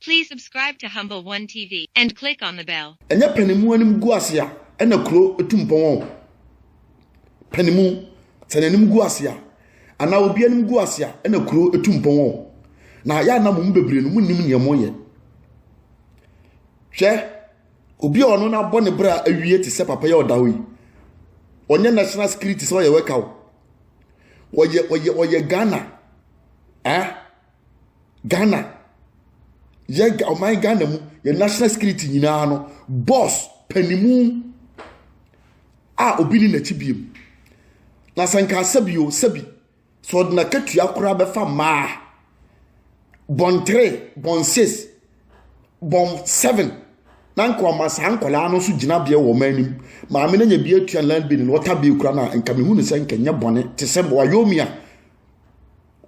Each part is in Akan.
Please subscribe to Humble One TV and click on the bell. Ɛnyɛ panimu anim gu ase a ɛna kuro etu mpɔn wɔn. Panimu sɛ n'anim gu ase a anaa obi anim gu ase a ɛna kuro etu mpɔn wɔn. Na yɛ anam mu bebree no mu nim nea wɔyɛ. Hwɛ Obi a ɔno no abɔ ne bra awie te sɛ papa yi a ɔda hɔ yi. Ɔnyɛ national security sɛ ɔyɛ wɛka o. Ɔyɛ ɔyɛ ɔyɛ Ghana. Ah Ghana. Yɛ ɔman Ghana mu yɛ national security nyinaa no boss panimu a obi ne n'akyi biem. Na sɛ nka asɛbi o sɛbi sɛ ɔde n'akatua koraa bɛfa mmaa bɔn three bɔn six bɔn seven na nka ɔma saa nkwadaa no nso gyinabea wɔ ɔman anim maame no nya bi atua land bill na ɔta bill koraa na nka mehu ne sɛ nka nyɛ bɔne te sɛ wayomi a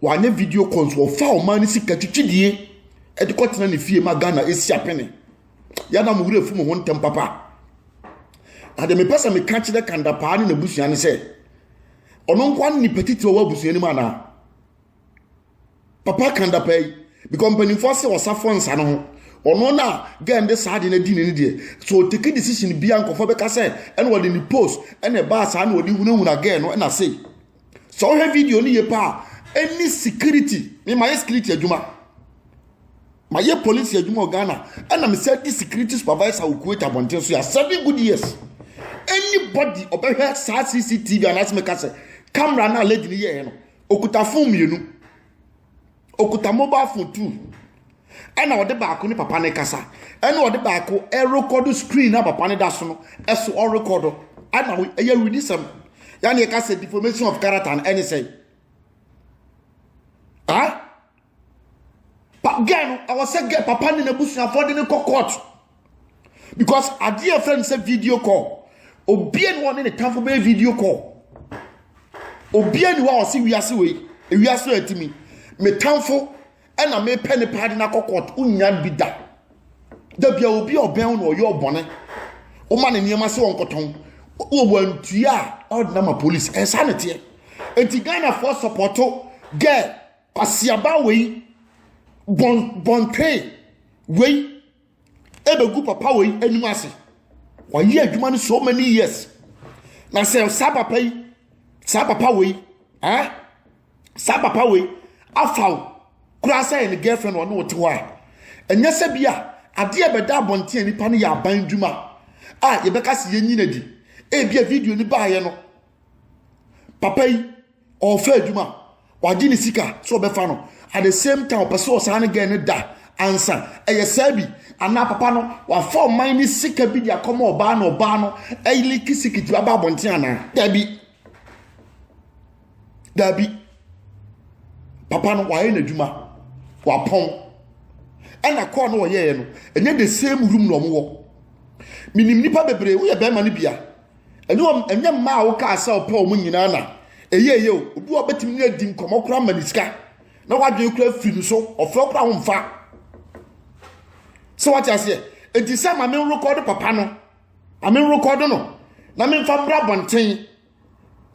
wanyɛ video call nso ɔfa ɔman no sika twitwidie ɛde kɔtena ne fie ma ghana ɛsi apene yɛda mo werɛ fi mo ho ntɛm papa na deɛ mepɛ sɛ meka kyerɛ kandapaa ne n'abusua no sɛ Ɔno nko ara ne nipa titiri a ɔwɔ abusua no mu anaa? Papa ka da paa yi because mpanimfoɔ ase ɔsafoɔ nsa no ho. Ɔno na girl de saa ade no adi ne ne deɛ. So ɔteki decision bia nkɔfoɔ bɛka sɛ ɛna ɔde ne post ɛna ɛbaa saa na ɔde hunahuna girl no ɛna sei. Sɛ ɔhwɛ video no yie paa ɛni security mema yɛ security adwuma. Mayɛ polisi adwuma wɔ Ghana, ɛna mesan di security supervisor wɔ Kuwait abɔnten so yɛ seven good years. Anybody ɔbɛhwɛ saa CCTV anaasɛ meka sɛ camera no a lady no yɛɛ no, okuta phone mmienu, okuta mobile phone two, ɛna ɔde baako ne papa no kasa, ɛna ɔde baako ɛrekɔdo screen na papa no da so no, ɛso ɔrekɔdo, ɛna ɛyɛ awudisɛm. Yɛn yɛka sɛ deformation of character no ɛne sɛ, ah. Girl no, ɛwɔ sɛ girl papa ne n'abusuafoɔ de no kɔ court because adeɛ a ɛfrɛ no sɛ video call obia ne wɔne ne tamfo bɛyɛ video call obia ne wɔ a ɔse wiase wei wiase wei atimi me tamfo ɛna mepɛ ne paa de no akɔ court wonya bi da da bia obi a ɔbɛn wo na ɔyɛ ɔbɔne woma ne nneɛma sɛ wɔnkɔtɔn wɔ wantua a ɔde nama police ɛsaa ne teɛ enti ghanafoɔ sɔpɔto girl Kwasiaba wei bɔn bɔntwee wei ɛbɛgu papa wei anim ase wɔayɛ adwuma no so many years na sɛ saa papa yi saa papa wei ɛɛ eh? saa papa wei afa wo koraa sɛ yɛ ne girlfriend ɔne wote hɔ a ɛnyɛ sɛ bi a adeɛ bɛda abɔnten a nipa no yɛ aban adwuma a yɛbɛka sɛ yɛnyina di ebi a video no baayɛ no papa yi ɔrefɛ adwuma wagye ne sika sɛ ɔbɛfa no at the same time ɔpɛ sɛ ɔsan ne gɛn no da ansa ɛyɛ saa bi anaa papa no wafa ɔman ne sika bi de akɔma ɔbaa na ɔbaa no ɛyili kisikiti aba abɔnten anaa dabi dabi papa no wayɛ n'adwuma wapɔn ɛna kɔɔ no ɔyɛɛ no ɛnyɛ the same room na ɔmo wɔ minim nipa bebree woyɛ bɛrima ne bia. ɛnyɛ wɔn ɛnyɛ mmaa a wokaa sɛ ɔpɛ wɔn nyinaa na ɛyɛ ɛyɛ o obi wɔ bɛtumi ne adi nkɔmɔ koraa ma ne sika na wadwene koraa firi no so ɔfrɛ koraa ho mfa sɛ wate aseɛ enti sɛ ma me rekɔdo papa no ma me rekɔdo no na memfa mmra bɔnten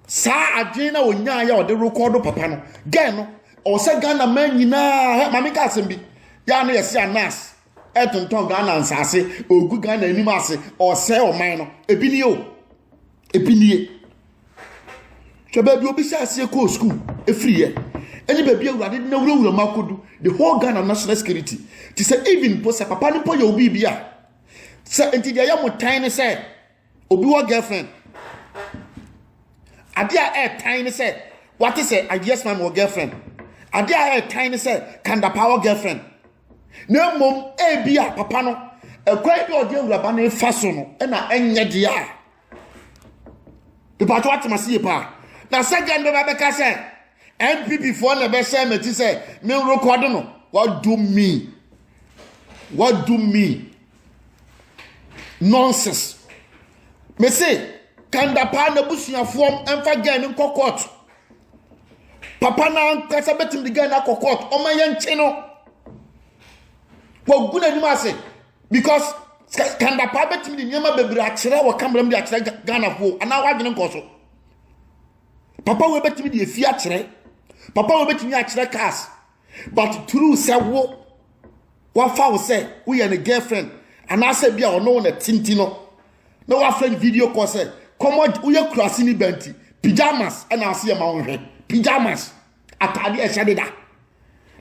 saa adwene na onyaa yɛ ɔde rekɔdo papa no gɛn no ɔsɛ ghana man nyinaa ma meka asɛm bi yɛ a na yɛse anas Ɛtontɔn Ghana nsaase, ɔgu Ghana anim ase, ɔresɛe ɔman no. Ebi nie o, ebi nie. Hwɛ baabi obi hyɛ aseɛ kɔɔ sukuu efiriiɛ, ɛne baabi awurade de n'awurawura mu akɔdu, the whole Ghana national security. Te sɛ even mpo sɛ papa no mpo yɛ obi bi a, sɛ nti deɛ ɛyɛ mo tan ne sɛ, Obi wɔ girlfriend. Ade a ɛretan ne sɛ wate sɛ ideas man wɔ girlfriend. Ade a ɛretan ne sɛ kandapa wɔ girlfriend. Na mmom ebi a papa no ɛkwan bi a ɔde awuraba no fa so no ɛna ɛnyɛ deɛ a. Nipa to atem ase yie paa. Na sɛ gɛn bɛba bɛka sɛ NPP foɔ na ɛbɛhyɛ mɛti sɛ me rekɔdo no. What do me? What do me? Nonsense. Me se kanda paa na abusuafoɔ mfa gɛn no nkɔ court. Papa no ankasa bɛtumi de gɛn no akɔ court. Ɔma yɛn nkye no. Wagu n'anim ase because kanda paa bɛtumi de nneɛma bebree akyerɛ wɔ kamera mu de akyerɛ Ghanafoɔ anaa wadwene nkɔ so. Papa wei bɛtumi de efi akyerɛ. Papa wei bɛtumi akyerɛ cars. but through sɛ wo wafa wo sɛ woyɛ ne girlfriend anaasɛ bi a ɔno wo na ɛte nti no na wafrɛ no video call sɛ kɔmɔ woyɛ kurase ne ba nti pyjamas ɛna ase yɛ ma wo nhwɛ pyjamas ataade ɛhyɛ de da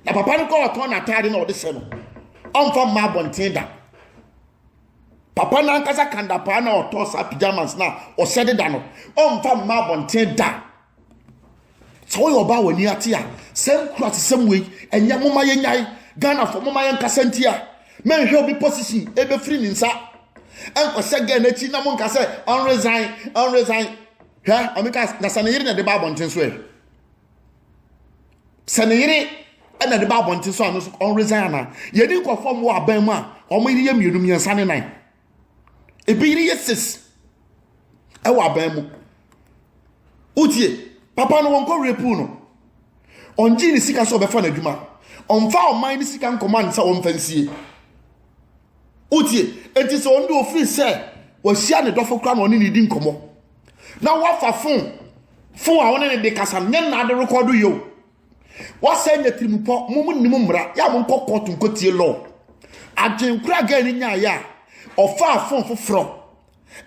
na papa no kɔ ɔtɔn n'ataade na ɔde hyɛ no ɔmfa mma abɔnten da papa no ankasa kandapaa na ɔtɔ saa pyjamas na ɔhyɛ de da no ɔmfa mma abɔnten da sɛ woyɛ ɔbaa w'ani ate a sɛ nkurasesɛm wei ɛnyɛ moma yɛnyae ghanafoɔ moma yɛnkasa ntia mɛnhwɛ obi position ɛbɛfiri ne nsa ɛnkɔhyɛ gɛ n'akyi na monka sɛ ɔnresan ɔnresan hwɛ ɔmeka na sɛ ne yere na ɛde ba abɔnten so ɛ sɛ ne yere ɛna ɛde ba abɔnten so a no so ɔnresan anaa yɛne nkurɔfoɔ mmoa abɛn mu a wɔn yere yɛ mmienu mmiɛnsa ne nan ebi yere yɛ six ɛwɔ aban mu wotie papa no wɔnkɔ rape no ɔngye ne sika sɛ ɔbɛfa n'adwuma ɔmfa ɔman ne sika nkɔmɔ ansa wɔmfa nsie wotie eti sɛ ɔno de ofiri sɛ wɔahyia ne dɔfo kora na ɔne ne di nkɔmɔ na wafa fon fon a ɔne ne de kasa nyɛ nnaade rekɔdo yio wɔsɛ nyɛ tirimupɔ mo mo nim mmara yɛ a mo nkɔ kɔɔto nkɔtie lɔɔ adwenkora gaa ni nyaayɛ a ɔfaa fon foforɔ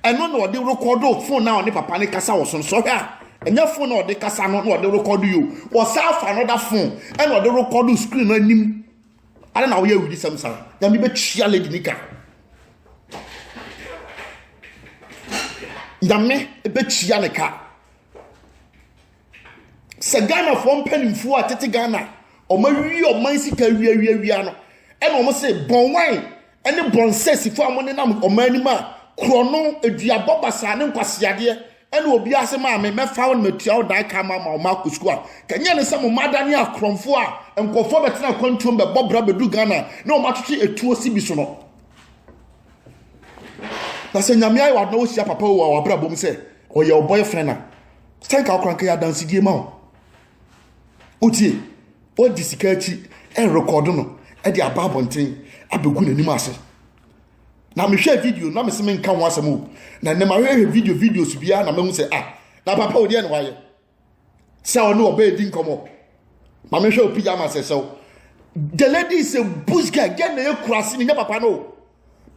ɛno na ɔde rekɔdo fon na ɔne papa ne kasa wɔ so no sɔhwɛ a ɛnyɛ fon na ɔde kasa no na ɔde rekɔdo yo wɔsan afa another fon ɛna ɔde rekɔdo screen no anim ana na woyɛ awudi sɛm saa nyame bɛtua lady nika nyame bɛtua ne ka sɛ ghanafoɔ mpanimfoɔ a tete ghana wɔn awie ɔman sika awiawiawia no ɛna wɔn se bɔnwan ɛne bɔnsɛsifo a wɔn nenam ɔman anim a korɔno aduabɔ basaa ne nkwaseadeɛ ɛna obi ase maame mɛfa wo na matua wo dan ka ma ma wɔn akɔ sukuu a kanyɛ ne sɛ mo mma adane akorɔmfoɔ a nkɔfoɔ bɛtena akwantuom bɛbɔ bra bɛdu ghana na wɔn atwetwe etuo si bi so no na sɛ nyame ayɛ wadena wɔhyia papa wɔ wɔ abrabɔ mu sɛ ɔyɛ ɔbɔyɛ fɛn na sɛ nka ɔkora nka yɛ adansedie ma wo wotie ɔdi sika akyi ɛrekɔdo no ɛde aba abɔnten abɛgu n'anim ase na mehwɛ video na mese menka ho asɛm o na nnɛ mahwɛhwɛ video videos biara na mahu sɛ ah na papa wo deɛ ne wayɛ sɛ ɔne ɔbɛɛ di nkɔmmɔ ma mehwɛ wo pyjamas ɛsɛ wo the lady is a bush girl gɛ na ɛkura ase ne nyɛ papa no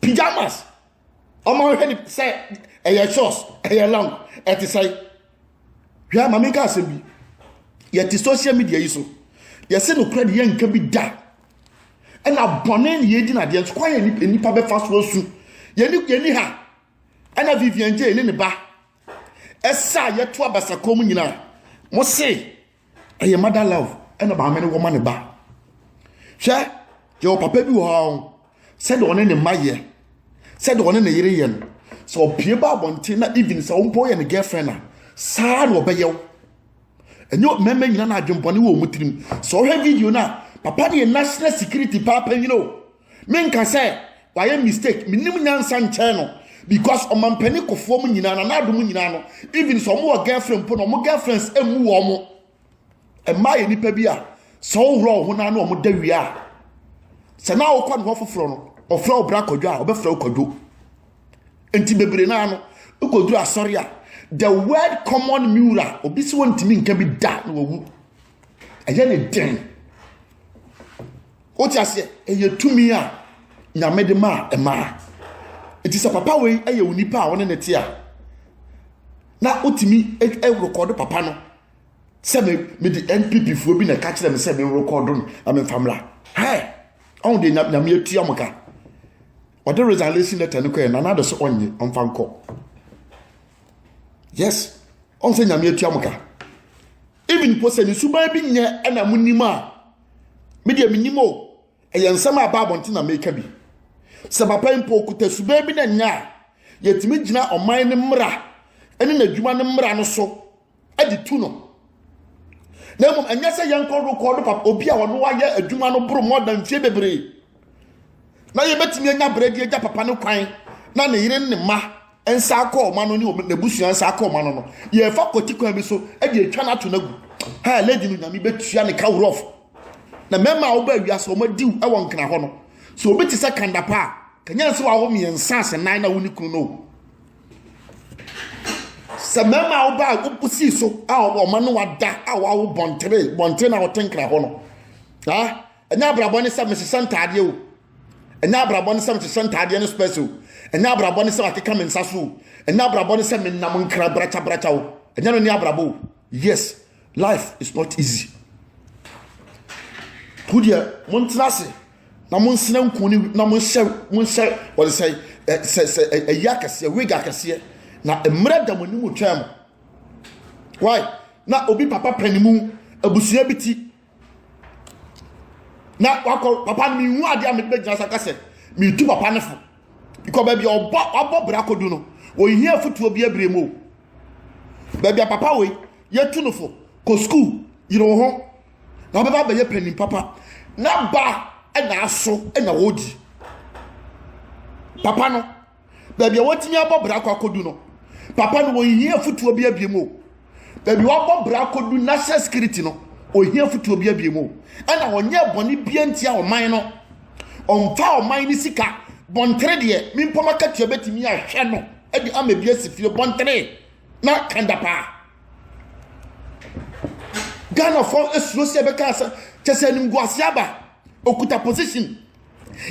pyjamas Ɔma wohwɛ ne sɛ ɛyɛ short, ɛyɛ long, ɛte sɛ. Hwɛ ama menka asɛm bi. Yɛte social media yi so. Yɛse nokorɛ de yɛnka bi da. Ɛna bɔne ne yɛdi no adeɛ nso kwan yɛ nnipa bɛfa so asu. Yɛni yɛni ha. Ɛna Vivian J ne ne ba. Ɛsa a yɛto abasakɔ mu nyinaa. Mo se ɛyɛ mother love ɛna maame no wɔ ma ne ba hwɛ yɛwɔ papa bi wɔ hɔ ahɔ sɛdeɛ ɔne ne mma yɛ sɛdeɛ ɔne ne yere yɛ no sɛ ɔpie ba abɔnten na even sɛ ɔmpo yɛ ne girlfriend a saa na ɔbɛyɛ wo ɛnyɛ mmarima nyina na adwembɔne wɔ wɔn tirim sɛ ɔhwɛ video no a papa deɛ national security paapa nyina o Me nka sɛ wayɛ mistake me nim nyansa nkyɛn no because ɔmampanin kofoɔ mu nyinaa na n'ado mu nyinaa no even sɛ ɔmo wɔ girlfriend mpo na ɔmo girlfriends emu wɔ ɔmo mmaa yɛ nipa bi a sɛ ɔworɔ ɔho naa na ɔmo da wie a sɛ naa ɔkɔ ne hɔ foforɔ no ɔfrɛ ɔbra kɔdwo a ɔbɛfrɛ ɔkɔdwo nti bebree naa no ɔkɔduru asɔre a the word common mura obi si wɔntumi nka bi da na wawu. ɛyɛ ne den wote aseɛ ɛyɛ tumi a nyame de maa ɛmaa nti sɛ papa wei ɛyɛ onipa a ɔne ne te a na wotumi ɛrekɔdo papa no sɛ me mede npp foɔ bi na ɛka kyerɛ me sɛ me rekɔdo no na me nfa mmra hɛ ɔn de nyame atua mo ka ɔde resignation letter no kɔɛ nana de so ɔnye ɔnfa nkɔ yes ɔn sɛ nyame atua mo ka. Even mpo sɛ ne suban bi nyɛ ɛna mo nim a, me deɛ me nim o, ɛyɛ nsɛm a ɛba abɔnten na meka bi. Sɛ papa yi mpo okuta suban bi na ɛnyɛ a, yɛtumi gyina ɔman ne mmara ɛne n'adwuma ne mmara no so ɛde tu no. Na mmom ɛnyɛ sɛ yɛnkɔ rekɔdo papa obi a ɔno ayɛ adwuma no boro mɔ da mfie bebree. na yɛbɛtumi anya berɛ de agya papa no kwan na ne yere ne mma nsa akɔ wɔn ano ne wɔn n'abusua nsa akɔ wɔn ano no yɛrefa kɔti kwan bi so de atwa no ato no agu ha lady no nyame bɛtua ne ka worɔfo na mmarima a wɔba awia sɛ wɔn adiw wɔ nkena hɔ no sɛ obi te sɛ kanda pa a kanya nsɛ wɔawo mmiɛnsa ase nan na wo ne kunu no sɛ mmarima a wɔba a wɔsi so a wɔn ano ada a wɔawo bɔntere bɔntere na wɔte nkena hɔ no ah ɛnyɛ abrabɔ ne sɛ mehyehyɛ ntaadeɛ o ɛnyɛ abrabɔ ne sɛ mehyehyɛ ntaadeɛ ne spɛs o ɛnyɛ abrabɔ ne sɛ makeka me nsa so o ɛnyɛ abrabɔ ne sɛ menam nkra brakyabrakyɛ o ɛnyɛ no ne abrabɔ o yes life is not easy ho deɛ montena ase na monsena nku ne na monhyɛ monhyɛ wɔde sɛ sɛ sɛ ɛyi akɛseɛ wig akɛseɛ na mmerɛ da mo anim twɛn mo why na obi papa pɛ ne mu abusua bi ti na wakɔ papa no mehu adeɛ a mede bɛgyina so aka sɛ metu papa no fo bikɔ baabi a ɔbɔ wabɔ bra kɔdu no ɔhia afotuo bi abire mu o baabi a papa wei yɛtu no fo kɔ sukuu yere wo ho na wobɛba abɛyɛ panin papa na ba na aso na wɔdi papa no baabi a wɔatumi abɔ bra akɔ akɔdu no papa no wɔhia afutuo bi abie mu o baabi wɔabɔ bra akɔdu national security no ɔhia afutuo bi abie mu o ɛna ɔnyɛ bɔne bia ntia ɔman no ɔmfa ɔman no sika bɔntere deɛ mempɔ makatua bɛtumi ahwɛ no de ama bi asi fie bɔntere na kanda paa ghanafoɔ asuro sɛ ɛbɛka sɛ kyɛ sɛ animguase aba okuta position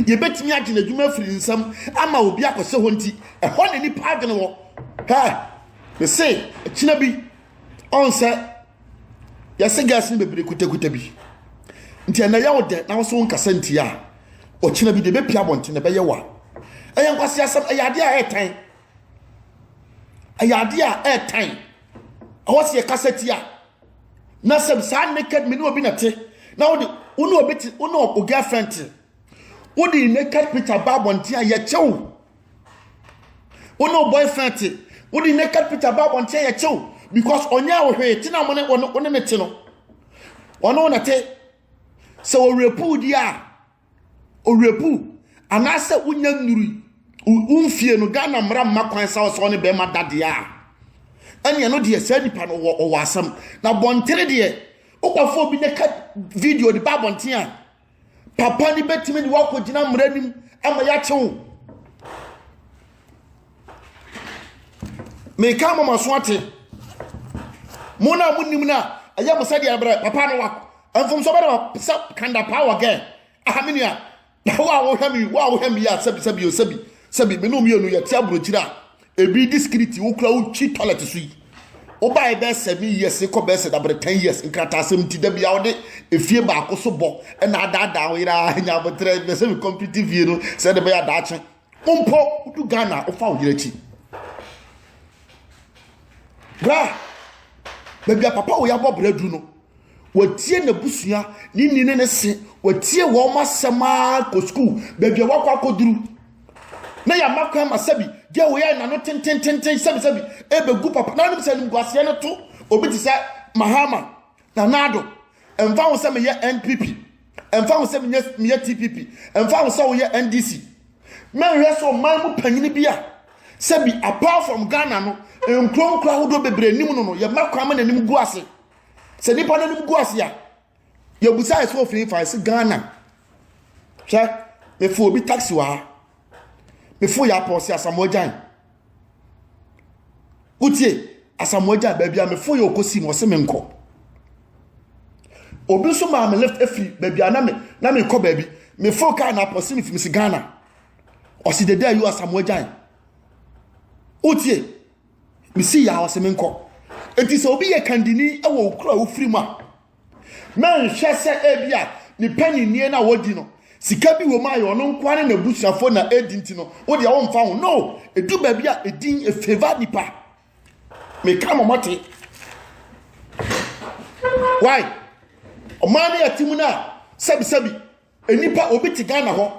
Yɛbɛtumi agye n'adwuma afiri ne nsam ama obi akɔsɛ hɔ nti, ɛhɔ na nipa adwene wɔ. Hɛ, mese, kyena bi, ɔn sɛ, yɛse gas no bebree kutakuta bi. Nti ɛnɛ yɛ wo dɛ na wo so wonkasa ntia a, ɔkyena bi de bɛpia abɔnten na ɛbɛyɛ wa. Ɛyɛ nkwasi asɛm, ɛyɛ adeɛ a ɛɛtan. Ɛyɛ adeɛ a ɛɛtan. Ɛwɔ sɛ yɛkasa tia. na sɛ saa naked me ne obi na te na wode wo ne obi te wo ne o girlfriend te wode naked picture ba abɔnten a yɛkyɛw wo ne o boyfriend te wode naked picture ba abɔnten a yɛkyɛw because ɔnyɛ wo hwee te na mo ne wo ne ne te no ɔno na te sɛ ɔwerɛpuu di a ɔwerɛpuu anaasɛ wonya nnurui wo mfie no ghana mmara mma kwan sa ɔsɛ ɔne bɛrima da deɛ a ɛneɛ no deɛ saa nipa no ɔwɔ asɛm na bɔntene deɛ wokɔfo obi ne ka video de ba abɔnten a papa no bɛtumi de woakɔgyina mmara nim ama yɛakye wo meka ama mo aso ate mo na mo nim na ɛyɛ mo sɛdeɛ brɛ papa no wa mfomso bɛ na sɛ kanda paa wɔ gɛn aha me nua na wo a wohwɛ mi wo a wohwɛ mi yɛ a sɛbi sɛbi o sɛbi sɛbi me no mmienu yɛ te aburokyiri a ebi di sikiriti wo kura wo twi tɔlɛt so yi wobae bɛɛ sɛ me years kɔ bɛɛ sɛ dabere ten years nkrataasɛm ti da bia wode efie baako so bɔ ɛna adaadaa wo yere a nya abotrɛ bɛ sɛ me kɔmpiti fie no sɛ de bɛyɛ adaakye Wo mpo wodu Ghana a wofa wo yere akyi. Bra baabi a papa wo yɛabɔ bra du no wɔtie n'abusua ne ni ne ne se wɔtie wɔn asɛm ara kɔ sukuu baabi a wakɔ akɔduru na yɛama kwan ma sɛbi gye wo yɛ nano tentententen sɛbisɛbi ɛbɛgu papa na anim sɛ animguaseɛ no to obi te sɛ mahama na naado ɛmfa ho sɛ meyɛ npp ɛmfa ho sɛ meyɛ tpp ɛmfa ho sɛ woyɛ ndc mɛhwɛ sɛ ɔman mu panyini bi a sɛbi apart from ghana no nkuro nkuro ahodoɔ bebree nim no no yɛma kwan ma n'anim gu ase sɛ nipa n'anim gu ase a yɛbusa ɛsɛ ofin fa ɛsɛ ghana hwɛ mefu obi taxi wɔ ha mefu yɛ apɔsi asamoagyan wotie asamoa gya baabi a mefo yɛ ɔkɔsi mu ɔse me nkɔ obi nso maa me lift afiri baabi a na me na mekɔ baabi mefo kaa na apɔse me fi mesi ghana ɔse dede ayi asamoa gyan wotie mesi yɛ a ɔse me nkɔ enti sɛ obi yɛ kandini wɔ okura wofiri mu a Mɛnhwɛ sɛ ebia ne paninnie no a wodi no, sika bi wɔ mu a ɛyɛ ɔno nkoa ne n'abusuafo na edi nti no, wo deɛ womfa ho. No, edu baabi a edin efeva nipa. Meka ma ɔmɔte. Why? Ɔman no yɛ te mu no a, sɛbisɛbi. Nnipa obi te Ghana hɔ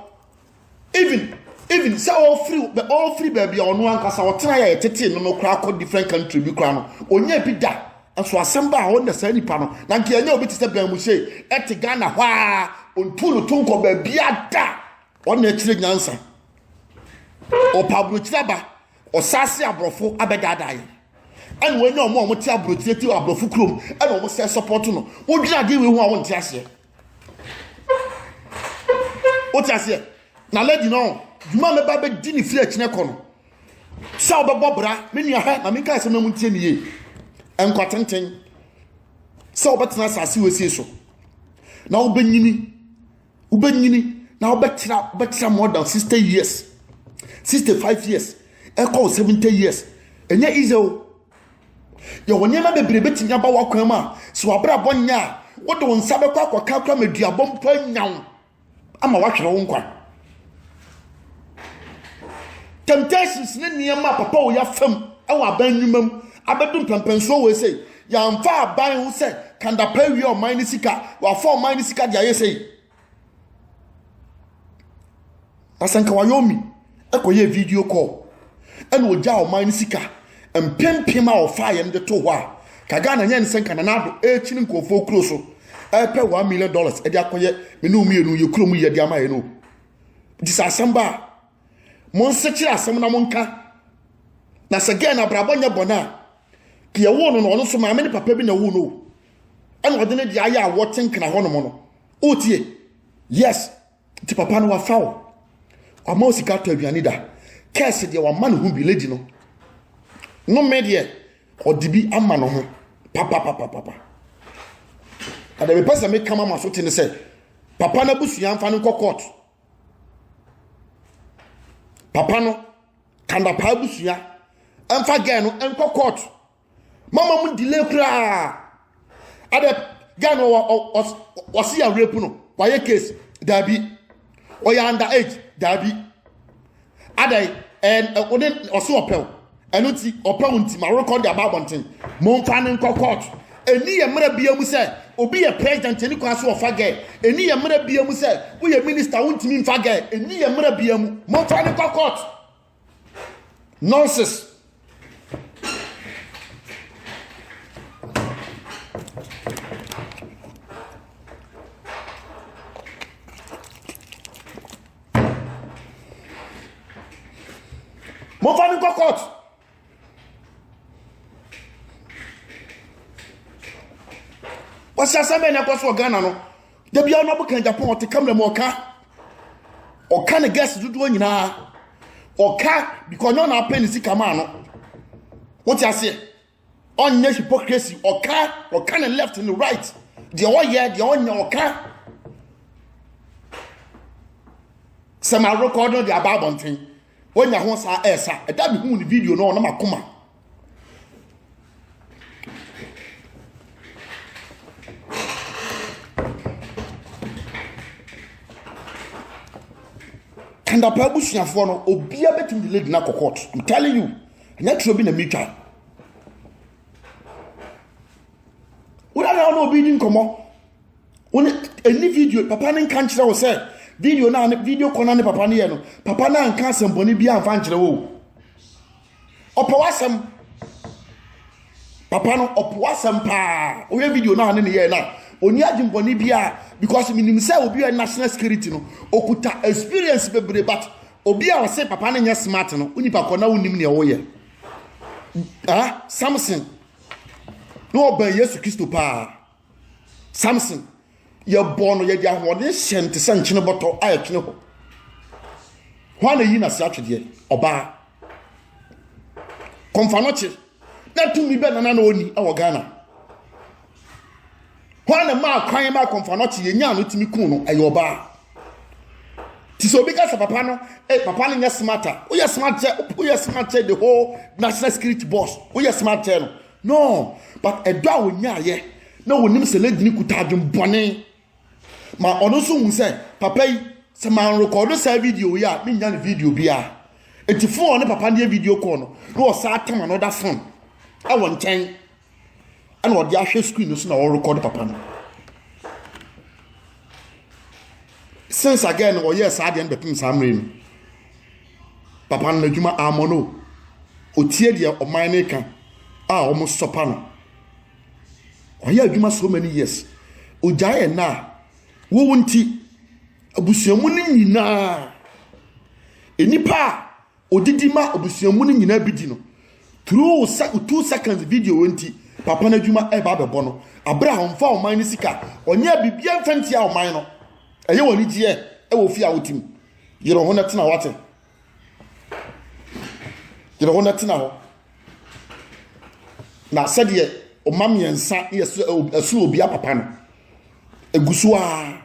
even even sɛ ɔfiri ɔfiri baabi a ɔno ankasa ɔtena yɛ ɛtete no no koraa kɔ different country bi koraa no ɔnyɛ bi da nso asɛm ba a ɔnna saa nipa no na nka ɛnyɛ obi te sɛ bɛn mu sei ɛte Ghana hɔ a ɔntu no to nkɔ baabi ada ɔnna akyire nyansa ɔpa aburokyire aba ɔsaase aborɔfo abɛdaadaa yɛ ɛna wɔanya ɔmo a wɔte aburokyire ti aborɔfo kurom ɛna wɔn sɛ support no wodwira adeɛ wei ho a wɔnte aseɛ wote aseɛ na lady no dwuma mɛba bɛdi ne fie akyinɛ kɔ no sɛ wobɛbɔ bra me nua ha na menka asɛm no mu ntie ne yie nkwatenten sɛ wobɛtena asase wɔsie so na wobɛnyini wobɛnyini na wobɛtra wobɛtra more than 60 years 65 years ɛkɔ 70 years ɛnyɛ easy o Yɛwɔ nneɛma bebree bɛtumi aba w'akwan mu a, sɛ w'abrabɔ nyɛ a, wode wo nsa bɛkɔ akɔka kora ma duabɔ mpo anya wo ama woahwere wo nkwa. Temptations ne nneɛma a papa wɔ yɛafam wɔ aban nnwuma mu abɛdu mpɛmpɛnsoɔ wɔ ɛsɛ yɛamfa aban ho sɛ kandapa awia ɔman ne sika, wɔafa ɔman ne sika de ayɛ sɛ Asɛ nka wayɛ omi kɔyɛɛ video call ɛna ogyaa ɔman no sika mpempem a ɔfaa yɛn de to hɔ a ka Ghana nyɛ ne sɛ nka Nana Addo ɛrekyini nkurɔfoɔ kuro so ɛrepɛ one million dollars ɛde akɔyɛ me ne mmienu yɛ kuro mu yɛ de ama yɛn o nti sɛ asɛm ba a mo nsekyere asɛm na mo nka na sɛ gɛn na abrabɔ nyɛ bɔn a deɛ wo no na ɔno nso maame ne papa bi na wo no ɛna ɔde ne deɛ ayɛ a wɔte nkena hɔ nom no o tie yes ti papa no wafa o wama o sika tɔ aduane da kɛse deɛ wama ne ho bi lady no no me deɛ ɔde bi ama ne ho papapapapa ɛdɛ mepɛ sɛ meka ma ma so te ne sɛ papa no abusua mfa no nkɔ court papa no kandapaa abusua ɛmfa gɛɛ no ɛnkɔ court mama mu delay koraa adɛ guy no ɔse yɛ rape no wayɛ case daabi ɔyɛ under age daabi adɛ ɔne ɔse ɔpɛw ɛno nti ɔpɛw nti ma rekɔ de aba abɔnten momfa ne nkɔ court ɛni yɛ mmerɛ bia mu sɛ obi yɛ president ɛni kwan so ɔfa gɛ ɛni yɛ mmerɛ bia mu sɛ woyɛ minister wontumi mfa gɛ ɛni yɛ mmerɛ bia mu momfa ne nkɔ court nonsense mofa no nkɔ court wɔsi asɛm bɛn na ɛkɔ so wɔ ghana no Da biara na ɔbɛka Japan ɔte kamera mu ɔka ɔka ne guest dodoɔ nyinaa ɔka because ɔnyɛ ɔna apɛ ne sika maa no wote aseɛ ɔnyɛ hypocrisy ɔka ɔka ne left ne right deɛ ɔyɛ deɛ ɔnyɛ ɔka sɛ ma rekɔd no de aba abɔnten wonya ho saa ɛsa ɛda mehu ne video no ɔnam akoma kandapa abusuafoɔ no obiara bɛtumi de lady no akɔ court i'm telling you ɛnyɛ turo bi na metwa wona na ɔne obi di nkɔmmɔ wone ɛni video papa no nka nkyerɛ wo sɛ video no video kɔ no ne papa no yɛ no papa no anka asɛmbɔne bi amfa nkyerɛ wo ɔpɛ w'asɛm papa no ɔpɛ w'asɛm paa woyɛ video no a ne ne yɛɛ no a ɔni adwembɔne biara because menim sɛ obi a national security no ɔkuta experience bebree but obi a ɔse papa no nyɛ smart no wo nipa kɔ na wonim neɛ woyɛ ah, samson na ɔbɛn yesu kristo paa samson yɛbɔɔ no yɛde ahoɔden hyɛ no te sɛ nkyene bɔtɔ a ɛtwene hɔ hwan na yi n'ase atwedeɛ ɔbaa kɔmfa no kye na tumi bɛ nana na ɔni wɔ ghana hwan na maa kwan ma kɔmfa no kye yɛnya no tumi kun no ɛyɛ ɔbaa ti sɛ obi ka sɛ papa no eh, papa no nyɛ smart a woyɛ smart kyɛ woyɛ smart kyɛ the whole national security boss woyɛ smart kyɛ no No, but ɛdɔ a ɔnyaeɛ na ɔnim sɛ lady no kuta adwen bɔne ma ɔno nso hu sɛ papa yi sɛ manrekɔdo saa video yi a mennya ne video biara nti fon ɔne papa no yɛ video call no na ɔsan atam another phone ɛwɔ nkyɛn ɛna ɔde ahwɛ screen no so na ɔrekɔdo papa no since again no ɔyɛɛ saa deɛ no bɛpem saa mmerɛ no papa no n'adwuma ammɔ no ɔtie deɛ ɔman no ka a wɔn sɔpa no ɔyɛ adwuma so many years ɔgyae ɛna a wowo nti abusuamu no nyinaa nnipa a Odidi ma abusua mu no nyinaa bi di no. Through two seconds video wɔ nti, papa no adwuma ɛreba abɛbɔ no. Abere a ɔmfa ɔman no sika, ɔnyɛ biribiara mfa ntia ɔman no. Ɛyɛ wɔ anigyeɛ ɛwɔ fie a wote mu. Yere ho na tena wate. Yere ho na tena hɔ. Na sɛdeɛ ɔma mmiɛnsa yɛ ɛsono obia papa no. Egusu a.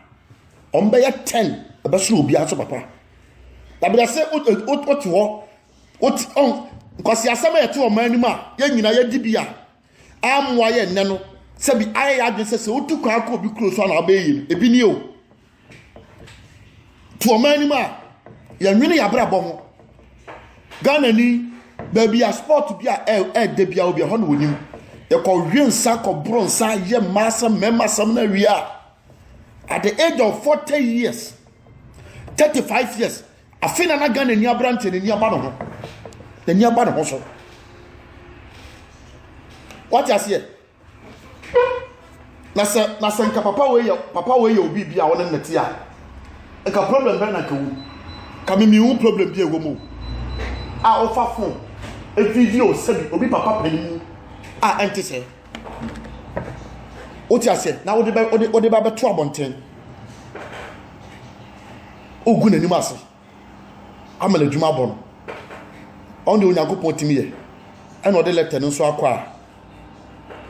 wɔn bɛyɛ ten ɛbɛsoro obiara so papa dabrase wote hɔ wote ɔn nkwasi asɛm a yɛte ɔman anim a yɛn nyinaa yɛdi bi a amoa yɛ nnɛ no sɛbi ayɛ yɛ adwene sɛ sɛ wotu kwan kɔ obi kuro so a na abɛyɛ yie ebi ni o to ɔman anim a yɛn nwene yɛ abrabɔ ho ghana ni baabi a sport bi a ɛɛdɛ bi a obi ɛhɔ na onim yɛkɔ wie nsa kɔ boro nsa yɛ mmaa asɛm mmarima asɛm na wie a. at the age of forty years thirty five years afei na na ghana ni aberanteɛ n'ani aba ne ho n'ani aba ne ho so wate aseɛ na sɛ na sɛ nka papa wei yɛ papa wei yɛ obi bi a ɔne ne te a nka problem bɛn na nka wu ka mi mi wu problem bi ɛwɔ mu a ɔfa fon evideo sɛbi obi papa panyin a ɛnte sɛ. wote aseɛ na wode bɛ wode wode ba bɛto abɔnten wogu n'anim ase ama no adwuma abɔ no ɔno deɛ onyankopɔn tumi yɛ ɛna ɔde lɛtɛ no nso akɔ a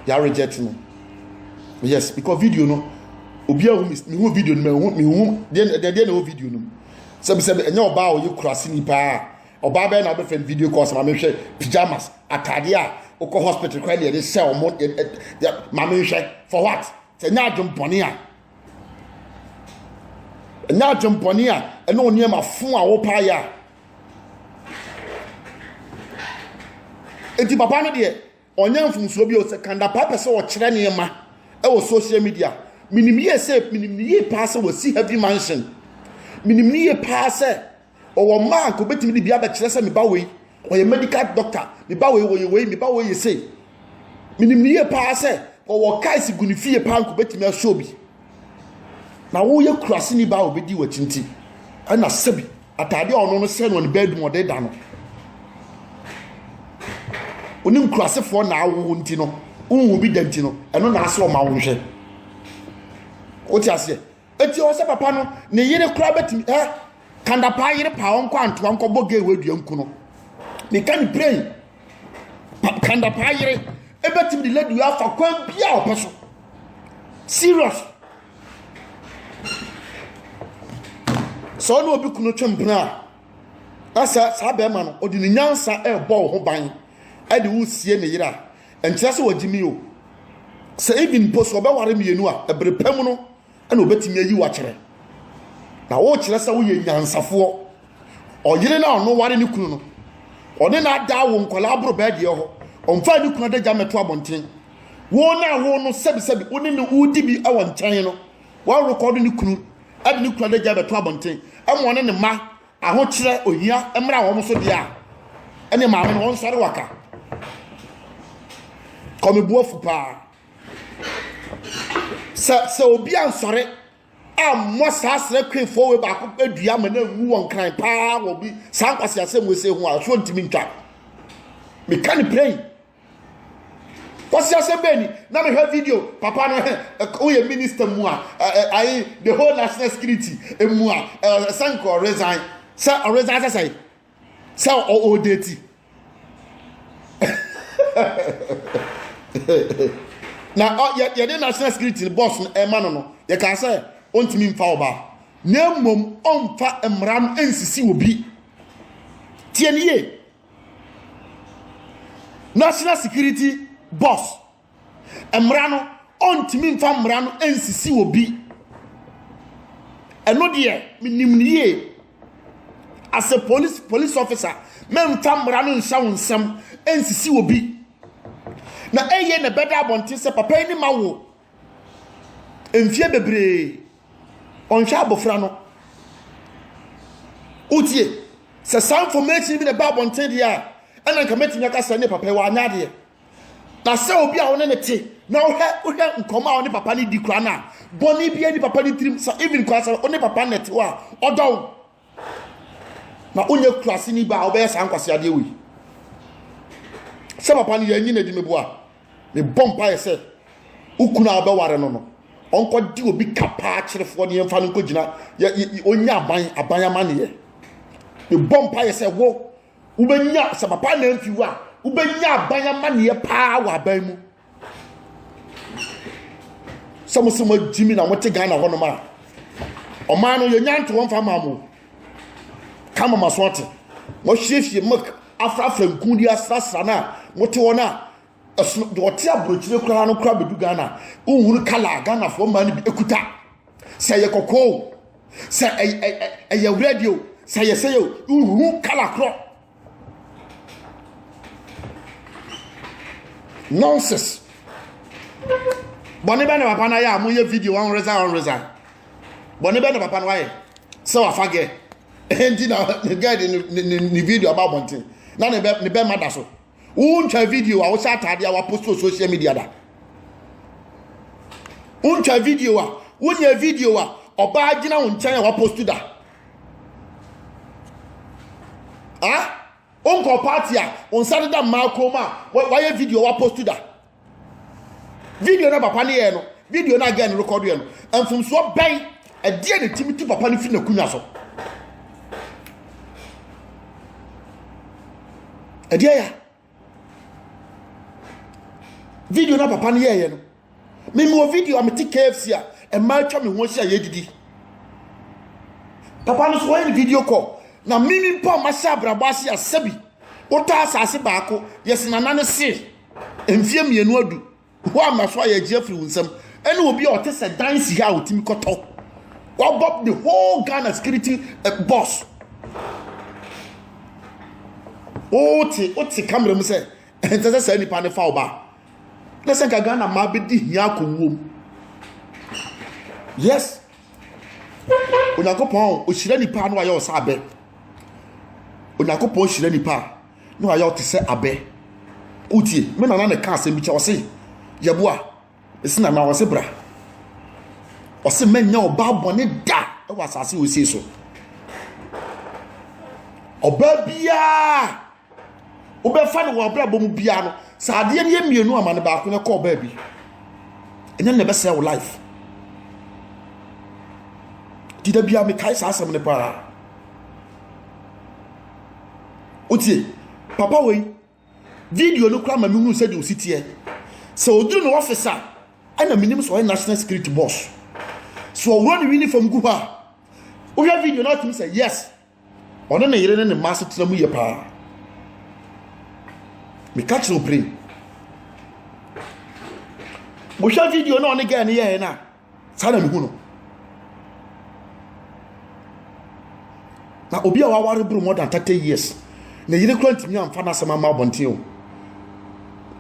yɛ reject no yes because video no obi ahu mehu video no mehu mehu deɛ deɛ na ɛwɔ video no mu sɛbisɛbi ɛnyɛ ɔbaa a ɔyɛ kurase ni paa ɔbaa bɛyɛ na ɔbɛfrɛ no video call sɛ maame hwɛ pyjamas ataadeɛ a wokɔ hospital kora ne yɛde hyɛ ɔmo maame nhwɛ for what sɛ nyɛ adwempɔne a ɛnyɛ adwempɔne a ɛne onneɛma fo a wopaeɛ a eti papa no deɛ Ɔnyɛ mfomsoɔ bio sɛ Kandapaa pɛ sɛ ɔkyerɛ nneɛma wɔ social media. Menim yie sɛ menim no yie paa sɛ wasi heavy mansion. Menim no yie paa sɛ ɔwɔ mma a nka ɔbɛtumi de bi abɛkyerɛ sɛ me ba wei ɔyɛ medical doctor, me ba wei ɔyɛ wei, me ba wei yɛ sei. Menim no yie paa sɛ ɔwɔ cars gu ne fie paa nka ɔbɛtumi asɔ bi. Na woyɛ kuraseni baa a obedi w'akyi nti, ɛna sɛbi ataade a ɔno no hyɛ no ne bɛɛ dum ɔde da no. Onim kurasefoɔ na awo nti no, wohu bi da nti no, ɛno na asɛ ɔma wo nhwɛ. Wote aseɛ? Eti ɔsɛ papa no, ne yere koraa bɛtumi ɛ kandapaa yere paa ɔnkɔ antoa nkɔbɔ gay wɔ adua nku no. Meka ne plain kandapaa yere ebetumi de ladu afa kwan bi a ɔpɛ so serious sɛ ɔne obi kunu twɛ mpena a ɛsɛ saa bɛrima no ɔde ne nyansa ɛrebɔ wo ho ban ɛde wo sie ne yere a ɛnkyerɛ sɛ wɔgye mi o sɛ even mpo so ɔbɛware mmienu a ɛbere pɛ mu no ɛna obetumi ayi wakyerɛ na wokyerɛ sɛ woyɛ nyansafoɔ ɔyere no a ɔno ware ne kunu no ɔne no adaa wo nkwadaa aboro bɛɛ deɛ hɔ ɔmfa ne kunu adagya mmɛto abɔnten wo no a wo no sɛbisɛbi wo ne no wodi bi wɔ nkyɛn no wɔrekɔdo ne kunu ɛde ne kunu adagya bɛto abɔnten ɛma ɔne ne mma ahokyerɛ ohia mmra wɔn so deɛ a ɛne maame no wɔnsɔre waka kɔmebuafo paa Sɛ sɛ obi ansɔre ammɔ saa srɛ kwefoɔ wei baako adua ma no anwu wɔn kran paa wɔ bi saa nkwasi asɛm wei sɛ ho a so ntumi ntwa meka ne pɛn kwasi asɛm bɛn ni na mehwɛ video papa no hɛ woyɛ minister mu a ayi the whole national security mu a sɛ nka ɔresan sɛ ɔresan sɛ sɛn sɛ ɔɔdeti na yɛde national security bɔs no ɛma no no yɛka sɛ ɔntumi mfa ɔbaa na mmom ɔmfa mmara no nsisi obi tie no yie national security bɔs Mmara no, ɔntumi mfa mmara no nsisi obi. Ɛno deɛ, menim no yie. As a police, police officer, mɛmfa mmara no nhyɛ wo nsɛm nsisi obi. Na ɛyɛ na ɛbɛda abɔnten sɛ papa yi ne ma wo mfeɛ bebree. Ɔnhwɛ abɔfra no. Wotie? Sɛ saa information bi na ɛba abɔnten deɛ a, ɛna nka mɛtumi aka sɛ ne papa yi wanyɛ adeɛ. na sɛ obi a wo ne ne te na wohwɛ wohwɛ nkɔmɔ a wo ne papa no di kora no a bɔne bi ani papa no tirim sɛ even kora sɛ wo ne papa no te hɔ a ɔdɔ wo na wonyɛ kurase ni ba a wobɛyɛ saa nkwase adeɛ wei sɛ papa no yɛanyi no adi meboa mebɔ mpaeɛ sɛ wo kunu a wobɛware no no ɔnkɔde obi ka paa kyerefoɔ ne yɛmfa no nkɔgyina ɔnya aban aban amanneɛ mebɔ mpaeɛ sɛ wo Wobɛnya sɛ papa anamfi wo a, wobɛnya aban amanneɛ paa wɔ aban mu. Sɛ mo sɛ moagyi mi na mote Ghana hɔnom a, ɔman no yɛnya nto wɔmfa ma mo. Ka ma maso ate. Moahwiehwie milk afrafra nku de asrasra no a, mote hɔ no a, ɛsono deɛ ɔte aburokyire koraa no koraa bɛdu Ghana. Wohunu kala a Ghanafoɔ mmaa no bi kuta. Sɛ ɛyɛ kɔkɔɔ sɛ ɛyɛ wura bi o sɛ yɛ sɛ yɛ o nhu kala korɔ nonsense bɔne bɛ na papa no ayɛ a moyɛ video ɔnreza ɔnreza bɔne bɛ na papa no ayɛ sɛ wafa gɛ ɛnti na gɛ de ne video aba abɔnten na ne bɛ ma da so wontwa video a wohyɛ ataade a wapost wɔ social media da wontwa video a wonyɛ video a ɔbaa gyina wo nkyɛn a wapost da ah wonkɔ party a wo nsa deda mmaa kɔn mu a wayɛ video a wapost da video no papa no yɛɛ no video no a gɛn rekɔdo yɛ no mfomsoɔ bɛn ɛdeɛ ne timi tu papa no firi n'akunya so ɛdeɛ ya video no papa no yɛɛyɛ no memewɔ video a mete kfc a ɛma atwa me ho ahyia yɛdidi papa no so wɔyɛ ne video call na mimi mpo a mahyɛ abrabɔ ase asɛ bi wotaa asase baako yɛsena na ne see Mfeɛ mmienu adu hɔ a mmaso a yɛregye afiri wo nsam ɛne obi a ɔte sɛ dan si ha a ɔtumi kɔtɔ wabɔ the whole Ghana security eh, boss wote wote kamera mu sɛ ɛnsɛ sɛ saa nipa no fa wo ba na sɛ nka Ghana mmaa bɛdi hia akɔwuom yes onyankopɔn ɔhyira nipa no ayɛ ɔsɛ abɛ onyankopɔn hyira nipa a na wayɛ wo te sɛ abɛ. Wotie, me nana na ɛka asɛm bi kyɛ, ɔse, Yɛboa, mese nana, ɔse bra. Ɔse mɛnyɛ ɔbaa bɔne da wɔ asase wɔ sie so. Ɔbaa biara wobɛfa no wɔ abrabɔ mu biara no, sɛ adeɛ no yɛ mmienu ama no baako no ɛkɔ ɔbaa bi. Ɛnyɛ na ɛbɛsɛe wo life. Ti da biara mekae saa asɛm no paa. wotie papa wei video no koraa ma mehunu sɛdeɛ ɔsi teɛ sɛ ɔduru no ɔfis a ɛna menim sɛ ɔyɛ national security boss sɛ ɔworɔ ne uniform gu hɔ a wohwɛ video no atumi sɛ yes ɔne ne yere ne ne mma asetena mu yɛ paa meka kyerɛ opere wohwɛ video no ɔne gɛɛ no yɛɛ no a saa na mehu no na obi a waware boro more than thirty years na yere kura ntumi amfa n'asɛm ama abɔnten o